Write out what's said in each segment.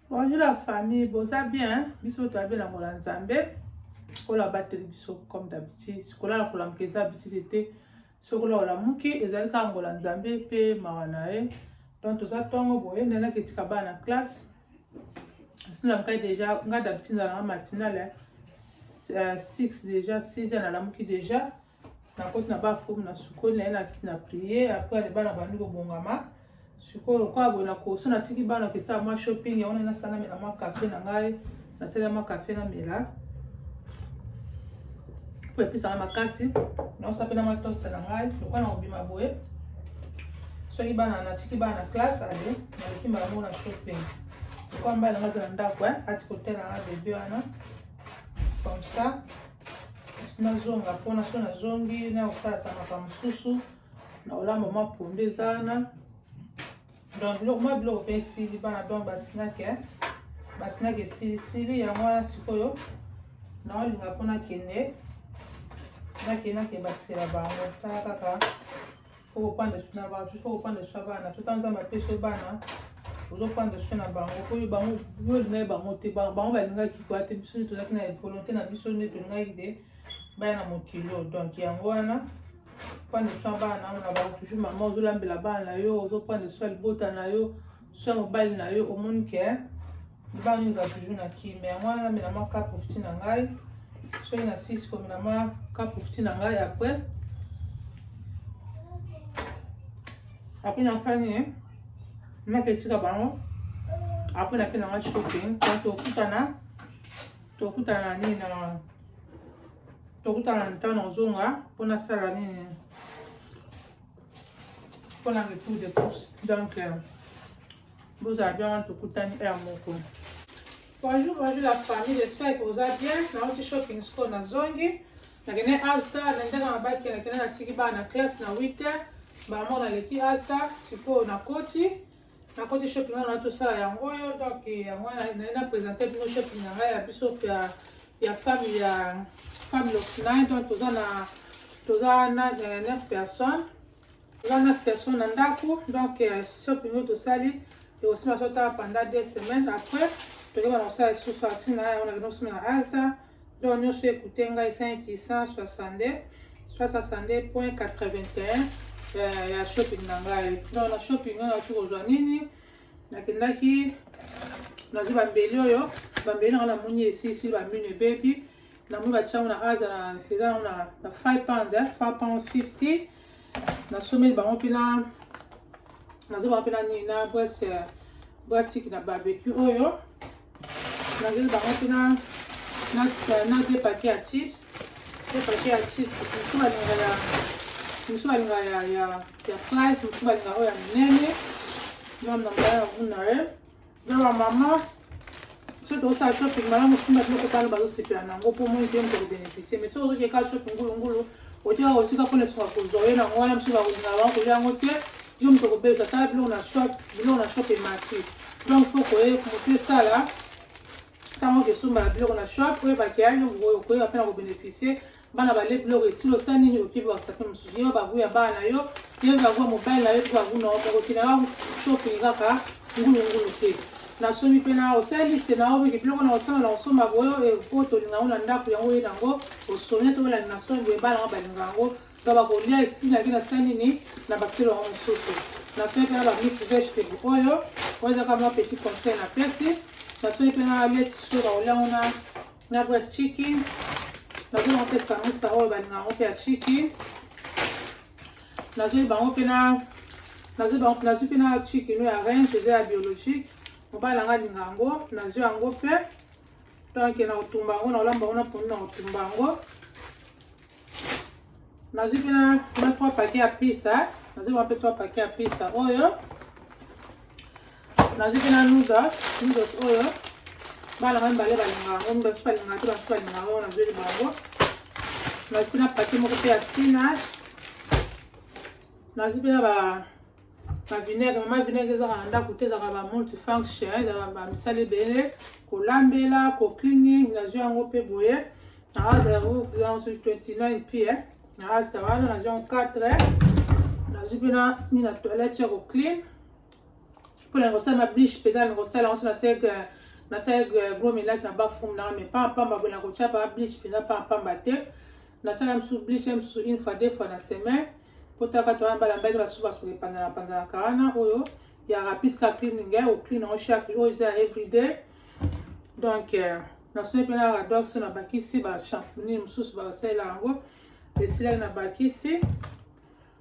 bonjour la famille boza bien biso toyabi na mola nzambe oyo abateli biso comme d'habitude kolala kolamuka eza habitude te soki ola olamuki ezali kaka ngola nzambe mpe mawa na ye donc toza ntongo boye nde naki etika bana na classe silamukai deja nga d'habitude nalanga matinale 6 deja 6 ya nalamuki deja nakoti na bafumu na sukoli naye na priere apres ale bana bandi kobongama sikoyo lokola boye na koso natiki bana kesala mwa shopping yango nde nasala mela mwa kafe na ngai nasala mwa kafe na mela po epesaka makasi naosa mpe na mwa toste na ngai lokola na kobima boye soki bana natiki bana na classe ale naleki mbala moko na shopping lokola mbala na ngai aza na ndako eh, ati kotela ngai bebe wana comme ça nazonga mpona so nazongi na kosalisa makambo mosusu na olamba mwa pondu eza wana donc biloko mwa biloko mpe esili bana donc basinaki eh? basinaki esilisili yango wana sikoyo naolinga mpo nakende nakende nakende bakisela bango tala kaka tokopanda su na bato tokopanda su ya bana tota nzambe apesa yo bana ozopanda su na bango mpo yo bango yo olingaki bango te bango balingaki kwa te biso nde tozalaki na volonté na biso nde tolingaki te baya na mokilo donc yango wana pande su ya bana na bango toujours mama ozolambela bana na yo ozopanda su ya libota na yo soki mobali na yo omoni ke libala nini ozala toujours na kime yango wana namela mwa ka profiti na ngai soki na sisi komela mwa ka profiti na ngai après après na fani nake etika bango après nake na ngai shopping po tokutana tokutana nini na tokutana na ntango nazonga mpo nasala nini mpo na retour de course donc euh, bozala bien wana tokutani heure moko bonjour bonjour la famille j'espère que oza bien nauti shopping score na zongi nakende asta na ndenge na baki nakende natiki bana na classe na 8 heure bamona leki asta sikoyo na koti nakoti shopping wana na tosala yango oyo donc yango wana naye na présente bino shopping na ngai ya biso ya ya femme ya femme locnai donc toza na toza na euh, neuf personnes toza neuf personnes na ndako donc euh, shopping oyo tosali ekosima sotala pendant deux semaines après tokebana kosala susu atina yango na kino kosima na asta donc nyonso ekute ngai 5662 362.81 ya, ya shopping na ngai donc na shopping oyo naki kozwa nini nakendaki nazwi bambeli oyo bambeli nanga namoni esisi bamino ebebi namoni batiango na aza na eza na 5 pound 5 pound 50 Na someli bango mpe na nazo bango mpe na nini na brese brastique na barbecue oyo nazeli bango mpe na de paquet ya chips de paquet ya chips mosusu balinga ya mosusu balinga ya ya fries mosusu balinga oyo ya minene mwana na mbala ya vuna ye na bamama soki tozosala shopping malamu simba biloko tano bazosepela na yango mpo moni te moto kobeneficie mais soki ozokeka shopping ngulungulu otyaka kosika mpona soka kozwa ye nango wana mosusu bakolinga bango kolya yango te yo moto kobebisa tala biloko na shop biloko na shop emati donc fo koye moto esala ntango okesombala biloko na shop oyebaki ya yo okoyeba mpe na kobeneficie bana bale biloko esilo sa nini okoki bakisa mpe mosusu yo bagu ya bana na yo yo bagu ya mobali na yo mpe bagu na yo bakokina ka shopping kaka ngulungulu te na somi mpe na osali liste na yo mpe biloko na osala na osomba boyo mpo eh, tolinga yango na ndako yango oye na yango osomia to balandi na somi boye bana yango balinga yango to bakolia esilaki na sa nini na bakiselo yango mosusu na somi mpe na bamix vegetable oyo oyo ezaka mwa petit conseil na pesi na somi mpe na leti soki bakolia yango na na gout ya chiki nazoi bango mpe samusa oyo balinga yango mpe ya chiki nazoi bango mpe na nazwi bango nazwi mpe na chiki no ya range eza ya biologique mobali nanga alinga yango nazwi yango mpe donc na kotumba yango na kolamba yango na pondu na kotumba yango nazwi mpe na 3 pake ya pisa nazwi mwa mpe 3 pake ya pisa oyo nazwi mpe na noodles noodles oyo bana ngai mibale balinga yango mibale mosusu balinga te basusu balinga yango nazweli bango nazwi mpe na pake moko mpe ya spinach nazwi mpe na ba ba vinaigre mama vinaigre ezaka na ndako te ezaka ba multifunction ezaka ba misala ebele kolambela ko cleaning nazwi yango mpe boye naazala yango yango soki 29 mpe eh. naazala wana nazwi yango 4 eh. nazwi mpe na mi na toilette ya ko clean mpo na kosala ma bliche mpenza na kosala yango so nasek nasala gros melage na bafum nanga me pamba pamba boye na kotya ba bliche mpenza pamba pamba te nasala mosusu bliche mosusu une fois deux fois na semaine potaka to wana bala mbali basusu basuka epanzana panzanaka wana oyo ya rapide ka cleaning ya oclean yango chaque oyo eza ya everyday donc euh, nasoni mpe na radox na bakisi bashamponi mosusu basalela yango esilaki na bakisi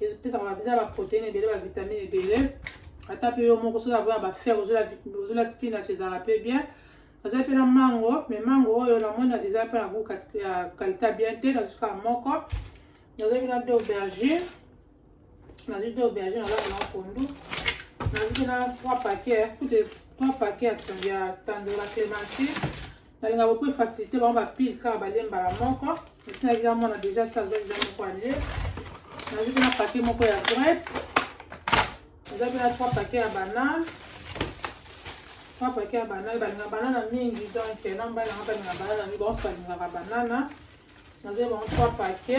epesaka babiza baproteine ebele bavitamine ebele ata mpe yo moko soki akoya bafere ozola spinach ezalaka mpe bien naza mpe na mango me mango oyo namona eza mpe na gout ya kalita bien te nazuka moko nazalaki na de aubergine nazwi de aubergine nazalaka na pondu nazwi mpe na trois paquet kutu trois paquet ya tandola clementine nalinga beaucoup efacilité bango bapile kaka balie mbala moko esi nazia mwana déjà sa azwa deja moko alie nazwi mpe na pake moko ya grapes eza mpe na trois pake ya banane trois pake ya banane balinga banana mingi donc na mbali nanga balinga banana mingi banso balingaka banana nazwi bango trois pake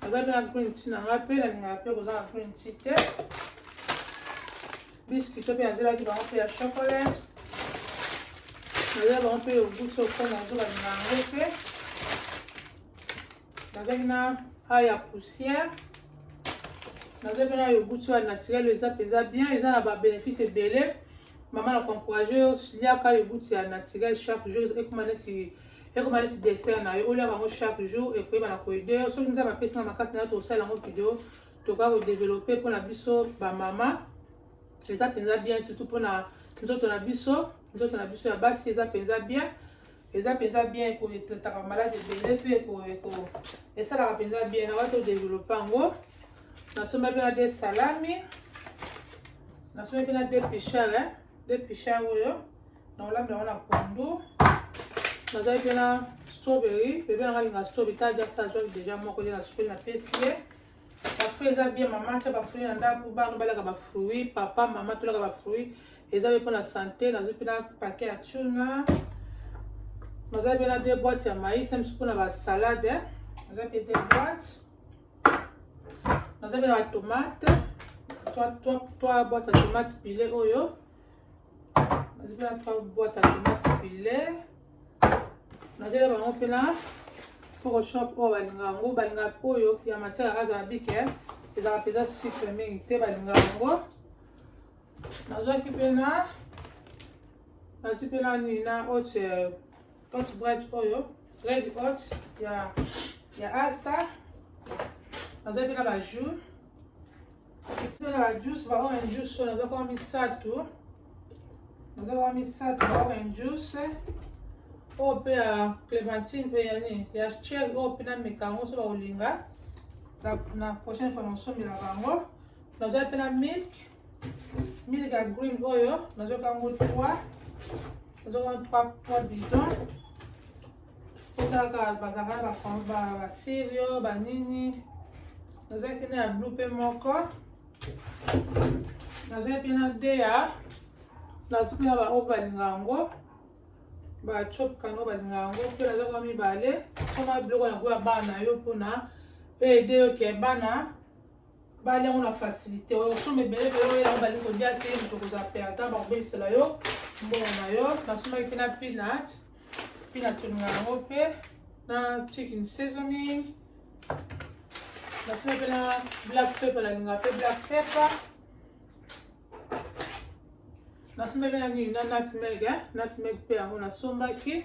aza mpe na green tea na ngai mpe nalingaka mpe koza na green tea te biscuit to mpe nazelaki bango mpe ya chocolat nazela bango mpe yogut oko nazobalinga yango mpe nazalaki na a ya poussière naza mpe na yogut oyo ya naturel eza mpenza bien eza na babénéfice ebele mama na koencourage yo liaka yogut ya naturel chaque jour ekoma neti ekoma neti dessert na yo olia bango chaque jour ekoyeba na koideur soki nzambe apesi nga makasi nayo tokosala yango video tokoka kodeveloppe mpona biso bamama eza mpenza bien surtout mpona nzoto na biso nzoto na biso ya basi eza mpenza bien eza mpenza bien ekotetaka malade ebele mpe esalaka mpenza bien na wati odeveloppe yango nasomba mpe na de salami nasomba mpe na de pichar de pichar oyo na olambela wana kwando nazali mpe na strawberry bebe nanga alinga strawberry ta aja sa azwaki deja moko nde na sukoli napesi ye bafruit eza bien mama atya bafruit na ndako bana balaka bafruit papa mama tolaka bafruit eza mpe mpo na sante nazwi mpe na pake ya tuna nazali mpe na de boite ya maïs misu mpo na basalade naza mpe de boite naza mpe na batomate 3 boite ya tomate pile oyo nazwi mpe na trois boîte ya tomate pilaire nazwi na bango mpe na poko shop oyo balinga yango balinga oyo ya matière azala bike eh. ezalaka mpenza sucre mingi te balinga yango nazwaki mpe na nazwi mpe na nini na oce hot bread oyo red hot ya ya asta nazwaki mpe na bajour Tuna ba juice ba orange juice na zako misato. Na zako misato ba orange juice. Oyo mpe ya clémentine mpe ya nini ya cher oyo mpe na meka yango so bakolinga na prochaine fois nasombela bango naza mpe na milk milk ya green oyo nazoka yango 3 nazoka 3 bidon Kotaka bazanga ba combat ba sirio ba nini. Nazaki na blue pe moko. Nazaki na dea. Nazaki na ba oba lingango. Ba chop kango ba lingango pe nazaki na mibale. Koma biloko yango ya bana yo pona aider yo ke bana bali yango na facilité oyo osomba ebele ebele oyela yango bali kolia te moto kozala perdant bakobebisela yo mbongo na yo nasombaki mpe na peanut peanut olinga yango mpe na chicken seasoning nasombaki mpe na black pepper nalinga mpe black pepper nasombaki mpe na nini na nutmeg nutmeg mpe yango nasombaki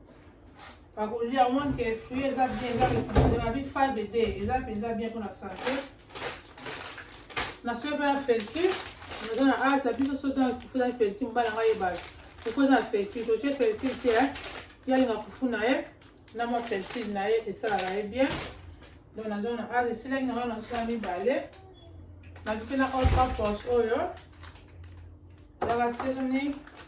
bakolia omwa nke fruit eza bien eza babi fibre de eza mpenza bien mpo na sante nasoki mpe na felki naza na ata biso soki na fufu ezali felki mobali yango ayeba fufu eza na felki totie felki te eh. yalinga fufu na ye na mwa felki na ye esalaka ye bien donc naza na ata esilaki na wana nasoki na mibale nazwi mpe na all purpose oyo ezaka sezoning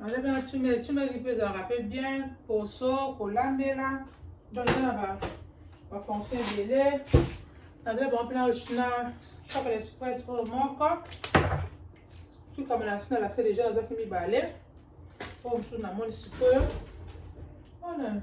Naza na chumeli chumeli mpe ezalaka mpe bien poso kolambela donc eza na bafonction ebele naza bango mpe na chapele spret oyo moko tukama na nsi nalakisa deja nazwaki mibale oyo mosusu namoni sikoyo wana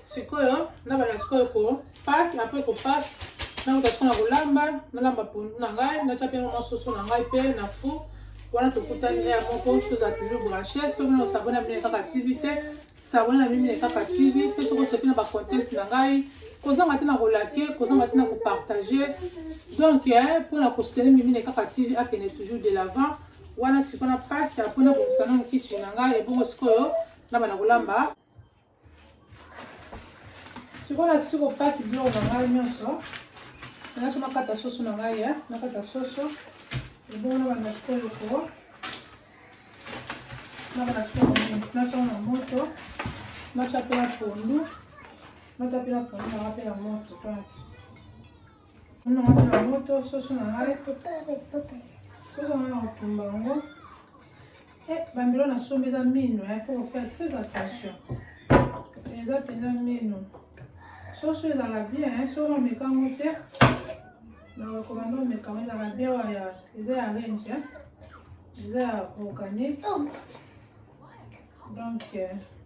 sikoyo nabanda sikoyo ko pake apres ko pake nakuta sikoyo na kolamba nalamba pondu na ngai natya mpe mwa soso na ngai mpe na four wana tokutani ya moko toza toujours branche soki na osabone na mine kaka tv te sabone na mine kaka tv mpe soki osepi na bacontacte na ngai kozanga te na kolake kozanga te na kopartage donc mpo na kosutene mimine kaka tv akende toujours de l'avant wana sikoyo na pake apres nabongisa nanu kitchen na ngai ebongo sikoyo nabana kolamba sikoyo nasisi kopaki biloko na ngai nyonso naso nakata soso na ngai ya nakata soso ebongo na banda sikoyo ko na banda sikoyo natya na moto natya mpe na pondu natya mpe na pondu nanga mpe na moto kaka Kuna wana na moto soso na ngai soso ngai na kotumba yango eh, bambilo nasombi eza mino il faut faire très attention eza mpenza mino soso ezalaka bien soki omeka yango te nakokoma nde omeka yango ezalaka bien waya eza ya range eza ya organique donc euh,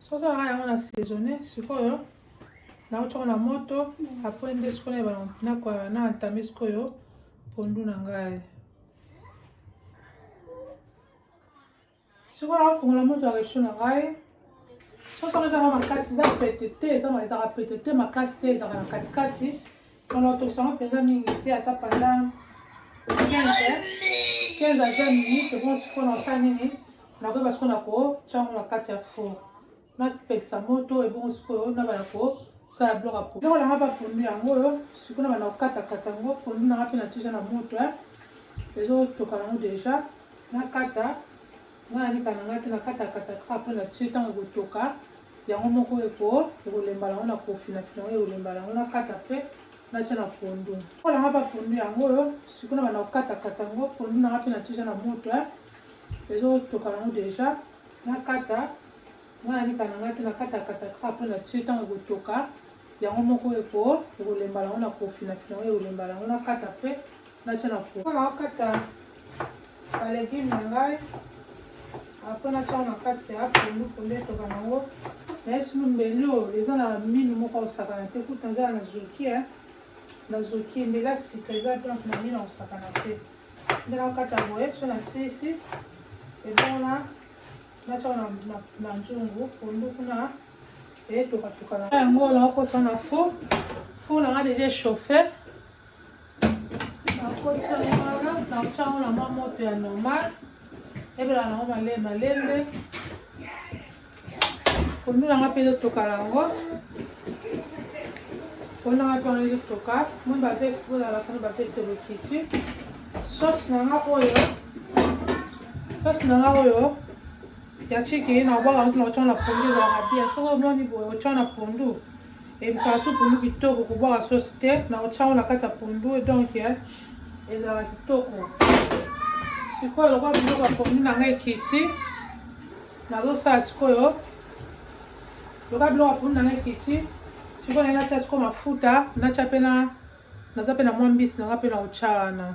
soki osalaka yango na saisonne sikoyo nakotyaka na moto apres nde sikoyo na entame sikoyo pondu na ngai sikoyo nakofungola moto ya recho na ngai soki soko ezaka makasi eza pete te ezaka pete te makasi te ezaka na katikati Maman tosanga mpenza mingi te ata pendant 15 15 à 20 minutes ebongo sikoyo nasala nini nakoyeba sikoyo na kotya yango na kati ya four napelisa moto ebongo sikoyo nabana kosala biloko ya pondu nanga bapondu yango oyo sikoyo nabana kokatakata yango pondu nanga mpe natija na moto eh. ezotoka yango deja nakata ngai nanika nanga te nakatakata kaka mpo natie ntango ekotoka Yango moko eko ekolemba nango na kofina fina yango ekolemba nango na kata pe na tia na pondu. Oyo nanga pa pondu yango oyo siko na banda kokata kata yango pondu nanga pe na tia na moto eh. Ezo toka nango deja na kata nga na lika nanga te na kata kata kaka pe na tia tango ekotoka yango moko eko ekolemba nango na kofina fina yango ekolemba nango na kata pe natya na po mpona okata balegume na ngai apres natyango na kati ya pondu pondu etoka nango nayesi mbeli oyo eza na minu moko osakana te kutu naza na zoki eh. na zoki mbeli ya sika eza donc na minu akosakana te nde nakokata boye so na sisi ebongo na natyaka na nzungu pondu kuna eyetokatoka na yango nakokosa na fo fo na nga deja chauffer Nakotiango nakotiango na mwa moto ya normal ebela nango male malembe pondu na nga mpe ezotoka nango pondu na nga mpe wana ezotoka moi baveste oyo na basana baveste lokiti sauce na nga oyo sauce na nga oyo ya chiki na obwaka motu na otya na pondu ezalaka bien soki omoni boye otya na pondu ebisaka su pondu kitoko kobwaka sosi te na otya yango na kati ya pondu donc eh, ezalaka kitoko sikoyo lokola biloko ya pondu na ngai ekiti nazosala sikoyo lokola biloko ya pondu na ngai ekiti sikoyo nai natya sikoyo mafuta natya mpe na naza mpe na mwa mbisi nanga mpe na otya wana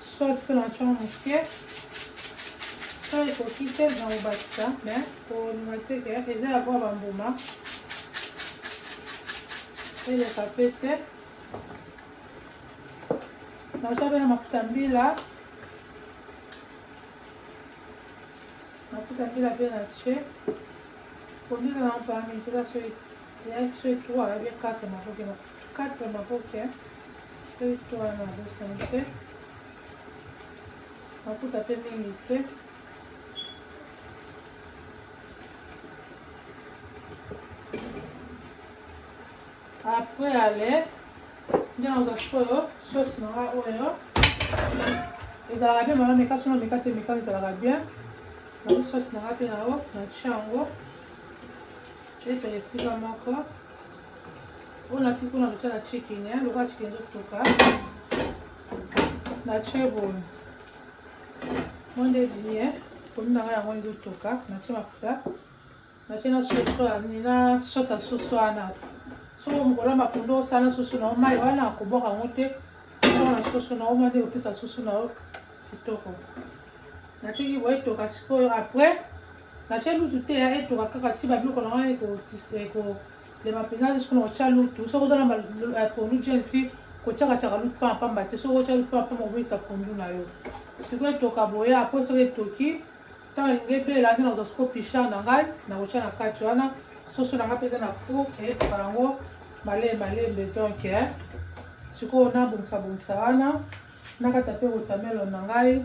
Soit mpe na chon moke so ekoki te na kobakisa me kondima te ke eza ya koya bambuma eleka mpe te nauta mpe na mafuta mbila mafuta mbila mpe na tie kondima na mpami mpeza soki ya soki 3 ya 4 makoki na Kata maboke eh. peto wana abosani te mafuta mpe mingi te après ale nde naoza sikoyo sauce na nga oyo ezalaka bien mama meka sono meka te meka ezalaka bien nazo sauce na nga mpe na yango natia yango ete esika moko Oyo natiki kuna kotya na chicken eh, lokola chicken ezotoka natye boye monde ebimi e komi na ngai yango ezotoka natye mafuta natye na soso ya nini na sosi ya soso wana soko mokolo ya makondo osala na soso na yo mai wana akobwaka yango te soko na soso na yo mwa nde opesa soso na yo kitoko natiki boye toka sikoyo après Natya lutu te ya etoka kaka ti babiloko na ngai ekolema mpenza te soki nakotya lutu soki oza na pondu jeune fille kotyakatyaka lutu mpamba mpamba te soki otya lutu mpamba mpamba kobebisa pondu na yo sikoyo etoka boya apres soki etoki ntango elingi ebela nde nakozwa soko pichar na ngai nakotya na kati wana soso na ngai mpe eza na four eyetoka yango malee malembe donk sikoyo nabongisa bongisa wana nakata mpe kotamelo na ngai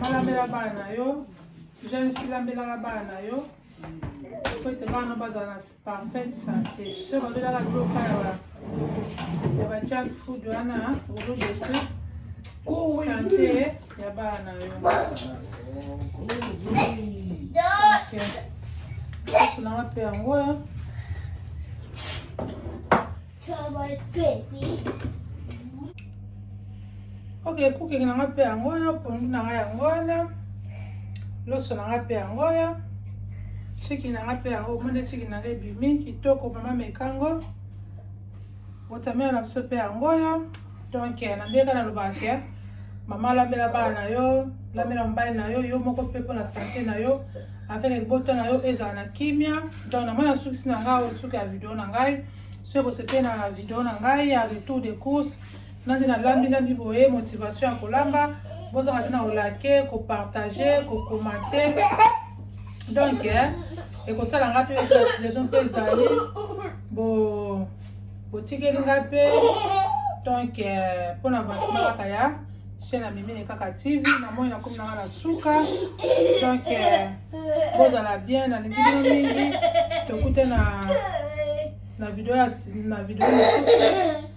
malambela bana na yo jeune fille lambelaka bana na yo po ete bana bazala na parfaite santé so babelaka biloka ya ba junk food wana olodote santé Ya bana yo. Okay. Kuna wapi ya ngoya? Ok, kuki na nga pe yango yo, pondu na nga yango wana. Loso na nga pe yango yo. Chiki na nga pe yango, omoni chiki na nga ebimi kitoko mama mekango. Watermelon na biso pe yango oyo. Donc na ndenge kaka nalobaka ke mama lambela bana na yo, lambela mobali na yo, yo moko pe mpona sante na yo avec libota na yo ezala na kimia. Donc na mwana sukisi na ngai osuki ya video na ngai. Soki bosepeli na video na ngai ya retour de course Nga nde nalambi lambi boye motivation ya kolamba bozanga te na kolake kopartage kokomate donc eh, ekosala nga mpe situation mpe ezali bo botikeli nga mpe donc eh, mpo na avancement kaka ya chaîne ya mimene kaka tv namoni nakomi nanga na suka donc eh, bozala bien nalingi bino mingi tokute na na video ya na video mosusu